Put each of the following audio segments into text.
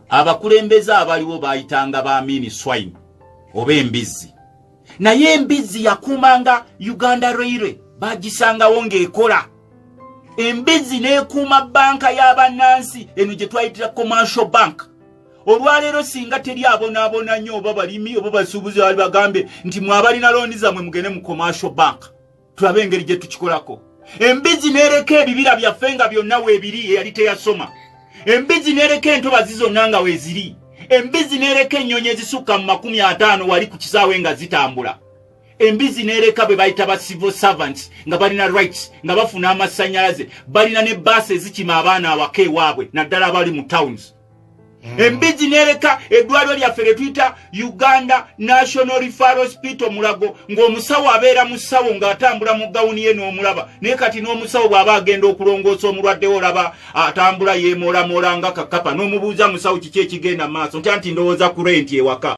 abakulembeze abaliwo bayitanga ba mini swine oba embizzi naye embizzi yakuumanga uganda railway bagisangawo ng'ekola embizzi n'ekuuma banka y'abannansi eno gye twayitira commercial bank olwaleero singa teri abonaabona nnyo oba balimi oba basuubuzi bali bagambe nti mwabalina looni zammwe mugende mu commercial bank tulabe engeri gye tukikolako embizzi n'ereka ebibira byaffe nga byonna weebiri eyali teyasoma embizzi n'ereka entobazi zonna nga weeziri embizzi n'ereka ennyonyi ezisukka mu makumi ataano wali ku kisaawe nga zitambula embizzi n'ereka bwe bayita ba civil servants nga balina rights nga bafuna amasannyalaze balina ne baasi ezikima abaana awaka ewaabwe naddala abali mu towns hmm. embizzi nereka eddwaliro lyaffe lyetuyita uganda national refero hospital mulago ng'omusawo abeera mu ssawo ng'atambula mu gawuni ye n'omulaba naye kati n'omusawo bw'aba agenda okulongoosa omulwaddewo olaba atambula yeemoolamoola nga kakapa n'omubuuza musawo kiki ekigenda mu maaso ntya nti ndowooza ku renti ewaka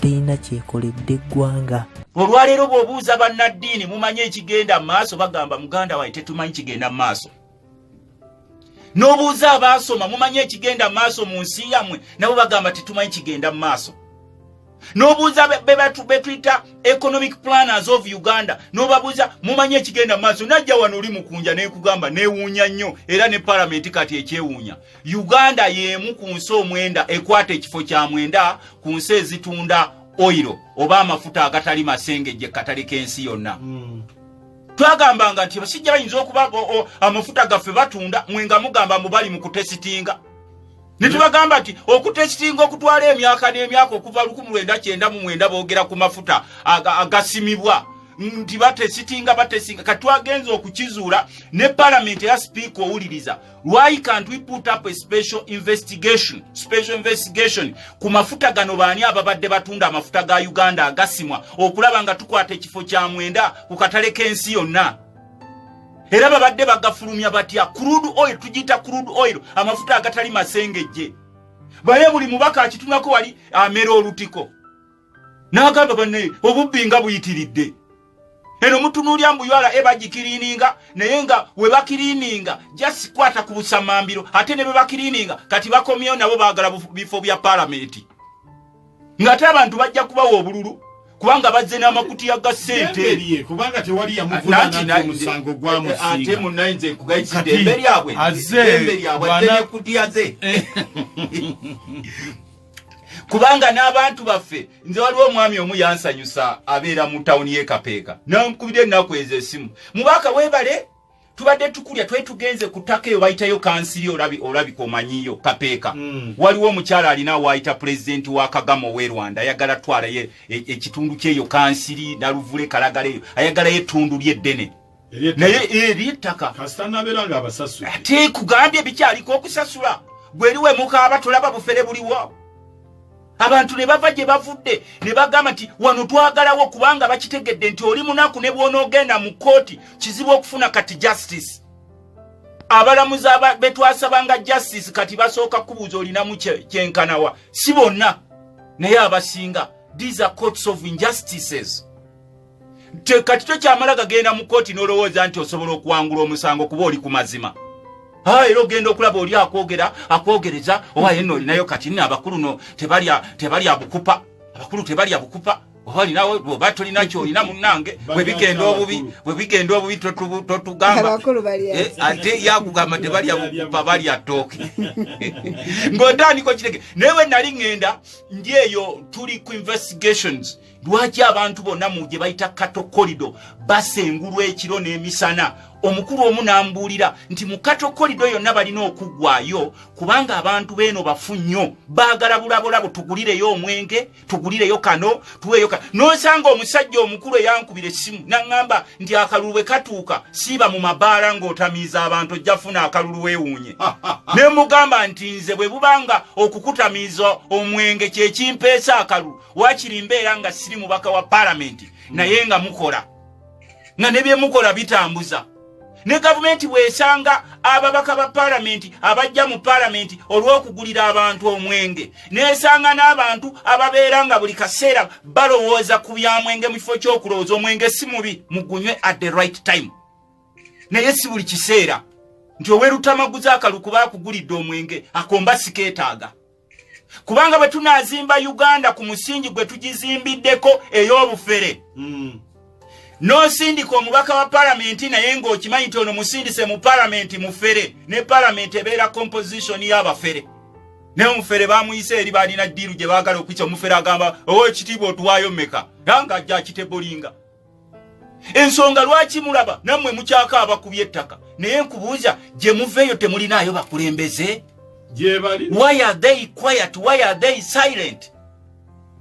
terina kyekoledde eggwanga olwaleero bw'obuuza bannaddiini mumanyi ekigenda mu maaso bagamba muganda waye tetumanyi kigenda mu maaso n'obuuza abaasoma mumanyi ekigenda mu maaso mu nsi yammwe nabo bagamba tetumanyi kigenda mu maaso n'obuuza betuyita economic planners of uganda n'obabuuza mumanyi ekigenda mu maaso najja wano oli mukunja nekugamba newuunya nnyo era ne palamenti kati ekyewuunya uganda y'emu ku nsi omwenda ekwata ekifo kya mwenda ku nsi ezitunda oyiro oba amafuta agatali masengejje katale k'ensi yonna hmm. twagambanga nti basijja bayinza okuba amafuta gaffe batunda mwe nga mugamba mubali mu kutesitinga ne tubagamba nti okutesitinga okutwala emyaka n'emyaka okuva 1999 boogera ku mafuta agasimibwa nti batesitinga batesinga katwagenza okukizuula ne palamenti eya sipiika owuliriza why can't we put up a special investigation special investigation ku mafuta gano baani ababadde batunda amafuta ga uganda agasimwa okulaba nga tukwata ekifo kya mwenda ku katale k'ensi yonna era babadde bagafulumya batya crude oil tugiyita crude oil amafuta agatali masengejje baye buli mubaka akitunako wali amera olutiko n'agamba banne obubbi nga buyitiridde eno mutunuulya mbu ura e bagikiriininga naye nga we bakiriininga just kwata ku busamambiro ate ne be bakiriininga kati bakomyewo nabo baagala bifo bya palamenti ng'ate abantu bajja kubawa obululu kubanga bazze n'amakutiya ga sente kubanga tewali yamuvunamusango gwamusingaate eh, munaye nze nkugayiside emberi abwe emberi abwe atenekutiya ze kubanga n'abantu baffe nze waliwo omwami omu yansanyusa abeera mu tawuni y'ekapeeka nankubira ennaku ezo esimu mubaka webale tubadde tukulya twali tugenze ku ttaka eyo bayitayo kansiri olabika omanyiyo kapeeka mm. waliwo omukyala alina waayita pulezidenti wa kagama owe rwanda ayagala twalayo e, ekitundu kyeyo kansiri naluvule kalagala eyo ayagalayo ettundu lyeddene naye eryettaka ate kugambye bikyaliko okusasula gweriwe mukaaba tulaba bufere buliwo abantu ne bava gye bavudde ne bagamba nti wano twagalawo kubanga bakitegedde nti oli munaku ne bwonoogenda mu kkooti kizibu okufuna kati justice abalamuzi betwasabanga justice kati basooka kubuuza olinamu kyenkanawa si bonna naye abasinga these are courts of injustices kati tokyamala gagenda mu kooti n'olowooza nti osobola okuwangula omusango kuba oli ku mazima ah, era ogenda okulaba oli akwogera akwogereza oba yenna olinayo kati nno abakulu no tebalya bukupa abakulu tebalya bukupa obalinawe oba tolina kyolina munange bwebigenda obubi bwebigenda obubi totugamba eh, ate yakugamba tebalya bukupa balya tooke ng'otandika okitege naye we nali ŋŋenda ndi eyo tuli ku investigations lwaki abantu bonna mu gye bayita kato kolido basengulwa ekiro n'emisana omukulu omu n'ambuulira nti mu kato kolido yonna balina okuggwayo kubanga abantu beeno bafu nnyo baagala bulabulabo tugulireyo omwenge tugulireyo kano tuweeyo kano n'osanga omusajja omukulu eyankubira essimu naŋŋamba nti akalulu bwe katuuka siiba mu mabaala ng'otamiiza abantu ojja funa akalulu weewuunye ne mugamba nti nze bwe bubanga okukutamiiza omwenge kyekimpeesa akalulu wakiri mbeera nga siri mubaka wa palamenti naye nga mukola nga ne byemukola bitambuza ne gavumenti bwesanga ababaka ba palamenti abajja mu palamenti olw'okugulira abantu omwenge nesanga n'abantu ababeera nga buli kaseera balowooza ku byamwenge mu kifo ky'okulowooza omwenge si mubi mugunywe at the right time naye si buli kiseera nti owerutamaguza akalukuba akugulidde omwenge akomba sikeetaaga kubanga bwe tunaazimba uganda ku musingi gwe tugizimbiddeko ey'obufere mm. n'osindika omubaka wa palamenti naye ng'okimanyi nti ono musindise mu palamenti mufere ne palamenti ebeera kompositioni y'abafere naye omufere bamuyise eri baalina ddiiru gye baagala okuyisa omufere agamba owo oh, ekitiibwa otuwaayo meka nanga ajja akitebolinga ensonga lwaki mulaba nammwe mukyaka abakuby ettaka naye nkubuuza gye muveeyo temulinaayo bakulembeze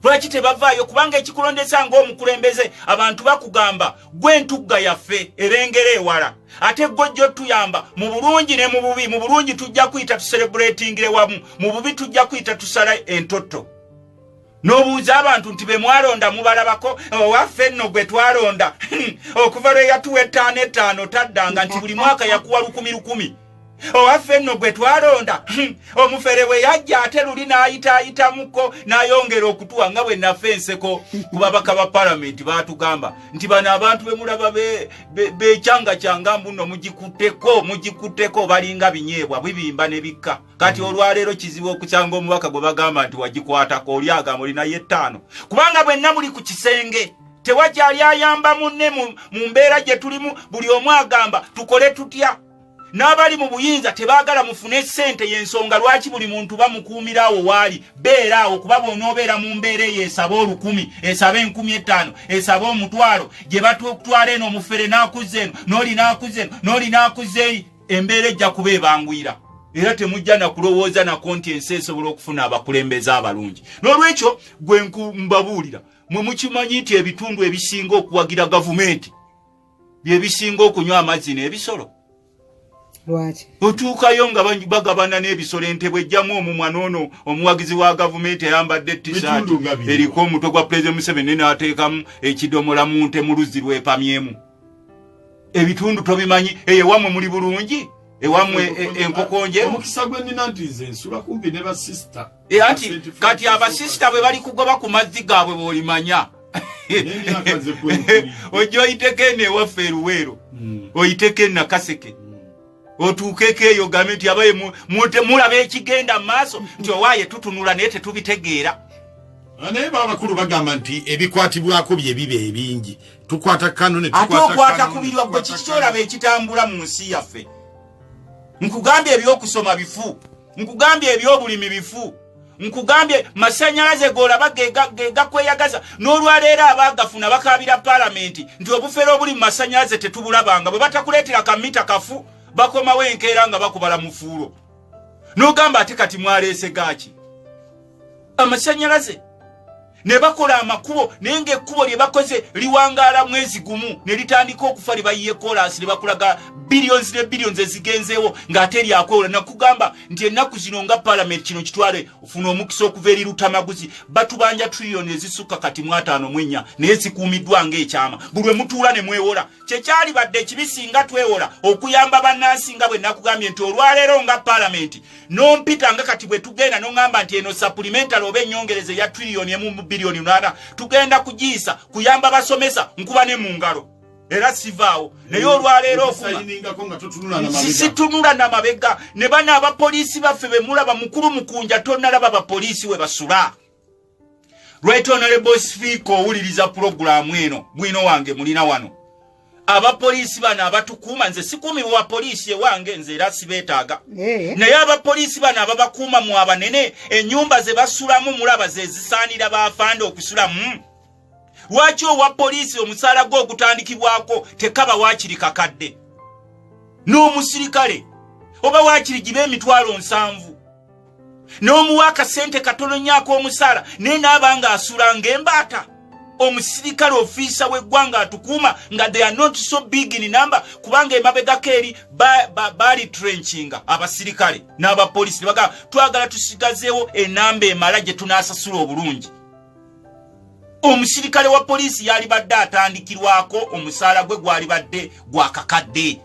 lwaki tebavaayo kubanga ekikulondesa ngaomukulembeze abantu bakugamba gwe ntugga yaffe erengera ewala ate gojja otuyamba mu bulungi ne mu bubi mu bulungi tujja kuyita tuserebuletingire wamu mu bubi tujja kuyita tusala entotto n'obuuza abantu nti be mwalonda mubalabako owaffe nno gwe twalonda okuva lwe yatuwa ettaano ettaano taddanga nti buli mwaka yakuwa lukumi lukumi owaffe nno gwe twalonda omufere bwe yajja ate luli n'ayitaayitamuko n'ayongera okutuwa nga bwe nafa enseko ku babaka ba palamenti baatugamba nti bano abantu be mulaba bekyanga kyanga mbuno mugikutteko mugikutteko balinga binyeebwa bibimba ne bikka kati olwaleero kizibu okukyanga omubaka gwe bagamba nti wagikwatako oli agamba oli naye ettaano kubanga bwenna muli ku kisenge tewakyali ayamba munne mu mbeera gye tulimu buli omu agamba tukole tutya n'abali mu buyinza tebaagala mufune ssente y'ensonga lwaki buli muntu bamukuumira awo waali beera awo kuba bw'onoobeera mu mbeera eyo esaba olukumi esaba enkumi ettaano esaba omutwalo gye batutwala eno omufere n'akuzza eno n'oli n'akuzza eno n'oli n'akuzza eri embeera ejja kuba ebanguyira era temujja na kulowooza nako nti ensi esobola okufuna abakulembeze abalungi n'olwekyo gwe nkumbabuulira mwe mukimanyi nti ebitundu ebisinga okuwagira gavumenti bye bisinga okunywa amazzi n'ebisolo otuukayo nga bagabana n'ebisolo entebwe ejjamu omumwa noono omuwagizi wa gavumenti ayambadde tisaati eriko omutwe gwa pulezidenti museveni naateekamu ekidomola mu nte mu luzzi lwepamyemu ebitundu tobimanyi eyo ewamwe muli bulungi ewamwe e, enkoko nje omukisa gwe nina nti nze nsula kumpi ne basista e, anti kati abasista bwe bali kugoba ku mazzi gaabwe bwolimanya ojja oyiteko eno ewaffe eruweero hmm. oyiteko enakaseke otuukeko eyo gambe nti abaye mulaba ekigenda mu maaso nti owaaye tutunula naye tetubitegeera ah, naye babakulu bagamba nti ebikwatibwako bye biba ebingi tukwata kano ate okwata ku birwa gwe kiki kyolaba ekitambula mu nsi yaffe nkugambye ebyokusoma bifu nkugambye ebyobulimi bifu nkugambye masanyalaze golaba gegakweyagaza n'olwaleero abagafuna bakabira palamenti nti obufere obuli mu masanyalaze tetubulabanga bwe batakuleetera kamita kafu bakomawo enkeera nga bakubala mufuulo n'ogamba ate kati mwaleese gaaki amasanyalaze ne bakola amakubo naye ng'ekkubo lye bakoze liwangaala mwezi gumu ne litandika okufa lye bayiye kolansi ne bakulaga billions ne billions ezigenzeewo ng'ate lyakwewola nakugamba nti ennaku zino nga palamenti kino kitwale ofuna omukisa okuva eri lutamaguzi batubanja trillion ezisukka kati mwataano mwenya naye zikuumiddwa ng'ekyama buli we mutuula ne mwewola kyekyalibadde ekibi singa twewola okuyamba bannansi nga bwe nakugambye nti olwaleero nga palamenti nompita nga kati bwe tugenda noŋamba nti eno sapulimentale oba enyongereza eya triliyoni emu mu biliyoni nana tugenda kugiyisa kuyamba basomesa nkuba ne mu ngalo era sivaawo naye olwaleero okusitunula na mabega ne bana abapoliisi baffe bemulaba mukulu mukunja tonalaba bapoliisi we basula right honorable speaker owuliriza pulogulaamu eno bwino wange mulina wano abapoliisi bano abatukuuma nze sikuumi wa poliisi ewange nze era sibeetaaga eh. naye abapoliisi bano ababakuuma mu abanene ennyumba ze basulamu mulaba ze zisaanira baafanda okusulamu lwaki owa poliisi omusaala gwe ogutandikibwako tekaba waakiri kakadde n'omusirikale oba waakiri giba emitwalo nsanvu n'omuwa akasente katono nnyo ak'omusaala naye naaba nga asula ng'embaata omusirikale ofiisa w'eggwanga atukuuma nga they are not so big in number kubanga emabegako eri baali trenkinga abasirikale n'abapolisi ne bagamba twagala tusigazeewo enamba emala gye tunaasasula obulungi omusirikale wa poliisi yalibadde atandikirwako omusaala gwe gwalibadde gwakakadde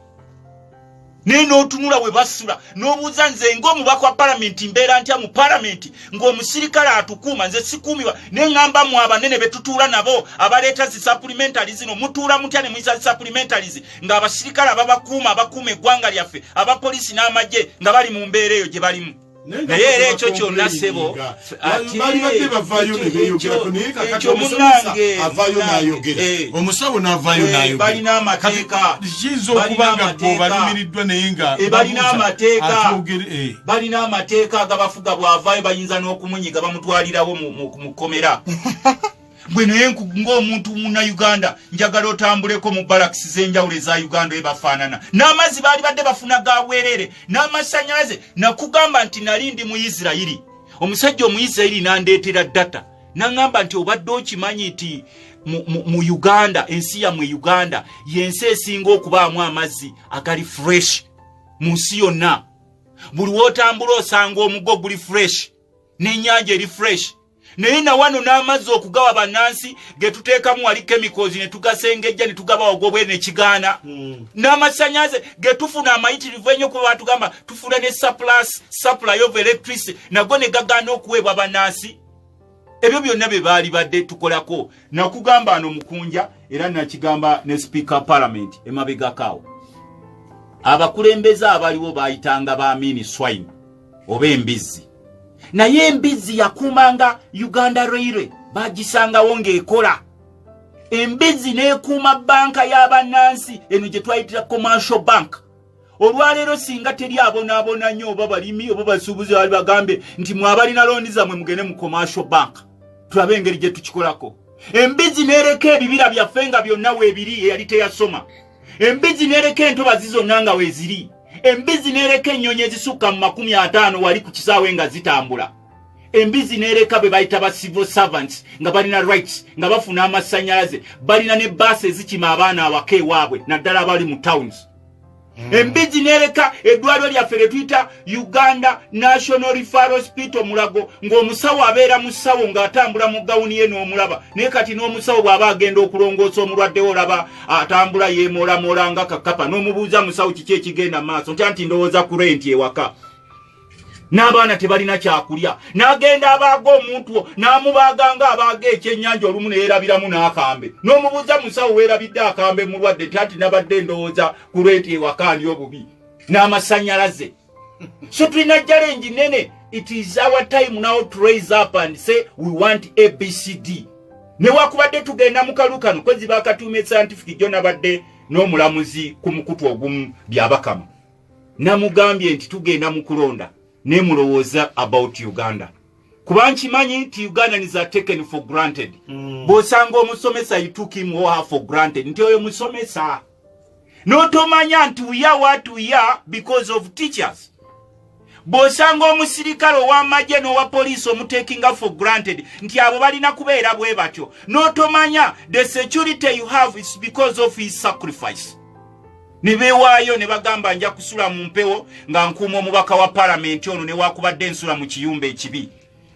naye n'otunula we basula n'obuuza nze ng'omubaka wa palamenti mbeera ntya mu palamenti ng'omusirikale atukuuma nze sikuumibwa naye ŋŋamba mu abanene be tutuula nabo abaleeta zi sapulimentali zino mutuula mutya ne muyisa zi sapulimentali zi ng'abasirikale ababakuuma abakuuma eggwanga lyaffe abapoliisi n'amagye nga bali mu mbeera eyo gye balimu naye era ekyo kyonna sebo balibadde bavayo nebeyogerako naye kakati omusomesa avayo nayogera eh. omusawo navayo eh, nayogerakiyinza okuba nga bweobalumiriddwa naye nga eh, balina amateeka balina amateeka agabafuga bwavayo bayinza n'okumunyiga bamutwalirawo mu kkomera gwe naye ng'omuntu muna uganda njagala otambuleko mu balakisi z'enjawulo eza uganda ebafaanana n'amazzi baali badde bafuna ga bwerere n'amasannyalaze nakugamba nti nali ndi mu isirairi omusajja omuisirairi nandeetera data naŋamba nti obadde okimanyi nti mu uganda ensi yamwe uganda yensi esinga okubaamu amazzi agali fresh mu nsi yonna buli wotambula osanga omugo guli fresh n'enyanja eri fresh naye nawano n'amazzi okugawa bannansi ge tuteekamu wali kemikozi ne tugasengejja ne tugaba wagobwe ne kigaana hmm. n'amasanyaze ge tufuna amayitirivu ennyo kuba batugamba tufuna ne surplus supply of electricity nago ne gagaana okuweebwa bannansi ebyo byonna bye baali badde tukolako nakugamba ano mukunja era nakigamba ne sipiika palamenti emabegakaawo abakulembeze abaliwo baayitanga ba miniswine oba embizzi naye embizzi yakuumanga uganda railway bagisangawo ng'ekola embizzi n'ekuuma banka y'abannansi eno gye twayitira commercial bank olwaleero singa teri abonaabona nnyo oba balimi oba basuubuzi bali bagambe nti mwabalina looni zammwe mugende mu commercial bank tulabe engeri gye tukikolako embizzi n'ereka ebibira byaffe nga byonna weebiri eyali teyasoma embizzi n'ereka entobazi zonna nga weeziri embizzi n'ereka ennyonyi ezisukka mu makumi ataano wali ku kisaawe nga zitambula embizzi n'ereka be bayita ba civil servants nga balina rights nga bafuna amasannyalaze balina ne baasi ezikima abaana awaka ewaabwe naddala abali mu towns hmm. embizzi n'ereka eddwaliro lyaffe lye tuyita uganda national refar hospital mulago ng'omusawo abeera mu ssawo ng'atambula mu gawuni ye n'omulaba naye kati n'omusawo bw'aba agenda okulongoosa omulwaddewo olaba atambula yeemoolamoola nga kakapa n'omubuuza musawo kiki ekigenda maaso ntya nti ndowooza ku renti ewaka n'abaana tebalina kyakulya n'agenda abaaga omuntu wo n'amubaaga nga abaaga ekyennyanja olumu neyeerabiramu n'akambe n'omubuuza musawo weerabidde akambe mulwadde nti anti nabadde ndowooza ku renti ewaka ndi obubi n'amasanyalaze so tulina challenge nene it is our time now to raise up and say we want abcd newakubadde tugenda mukalukano kwezi bakatuuma escientific jo nabadde n'omulamuzi ku mukutu ogumu byabakama namugambye nti tugenda mu kulonda ne mulowooza about uganda kuba nkimanyi nti ugandans are taken for granted mm. bwosanga omusomesa you took him or her for granted nti oyo musomesa notomanya nti uya wat uya because of teachers bwosanga omusirikale owamagye nowa poliisi omutekinga for granted nti abo balina kubeera bwe batyo notomanya the security you have is because of his sacrifice ne bewaayo ne bagamba nja kusula mu mpewo nga nkuuma omubaka wa palamenti ono newakubadde ensula mu kiyumba ekibi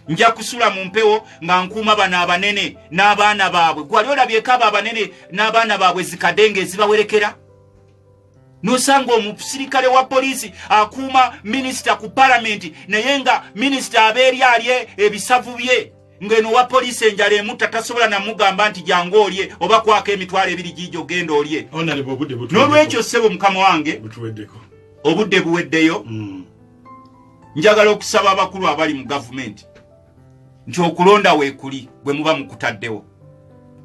nja kusula mu mpewo nga nkuuma bano abanene n'abaana baabwe gwali olabyeko abo abanene n'abaana baabwe zikade nga ezibawerekera nosanga omusirikale wa poliisi akuuma minisita ku palamenti naye nga minisita abeeri alye ebisavu bye ng'eno wa poliisi enjala emutta tasobola namugamba nti jangu olye oba kwako emitwalo ebiri giija ogenda olye n'olwekyo ssebo mukama wange obudde buweddeyo mm. njagala okusaba abakulu abali mu gavumenti nti okulonda weekuli bwe muba mukutaddewo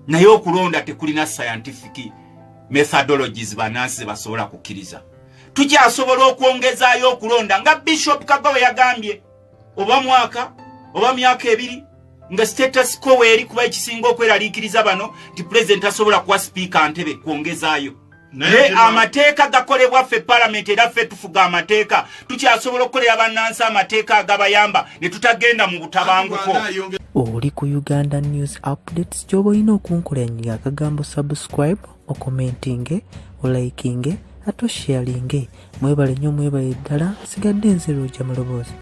naye okulonda tekulina scientific methodologies banansi ze basobola kukkiriza tukyasobola okwongezaayo okulonda nga bishop kago bwe yagambye oba mwaka oba myaka ebiri nga status co weeri kuba ekisinga okweraliikiriza bano nti pulezidenti asobola kuwa sipiika ntebe kwongezaayo naye amateeka gakolebwa ffe palamenti era ffe tufuga amateeka tukyasobola okukolera bannansi amateeka agabayamba ne tutagenda mu butabanguko oli ku uganda news updates kyoba olina okunkulanyiga akagambo subscribe okomentinge olaikinge ate osharinge mwebale nyo mwebale ddala sigadde nze lwoja mu loboozi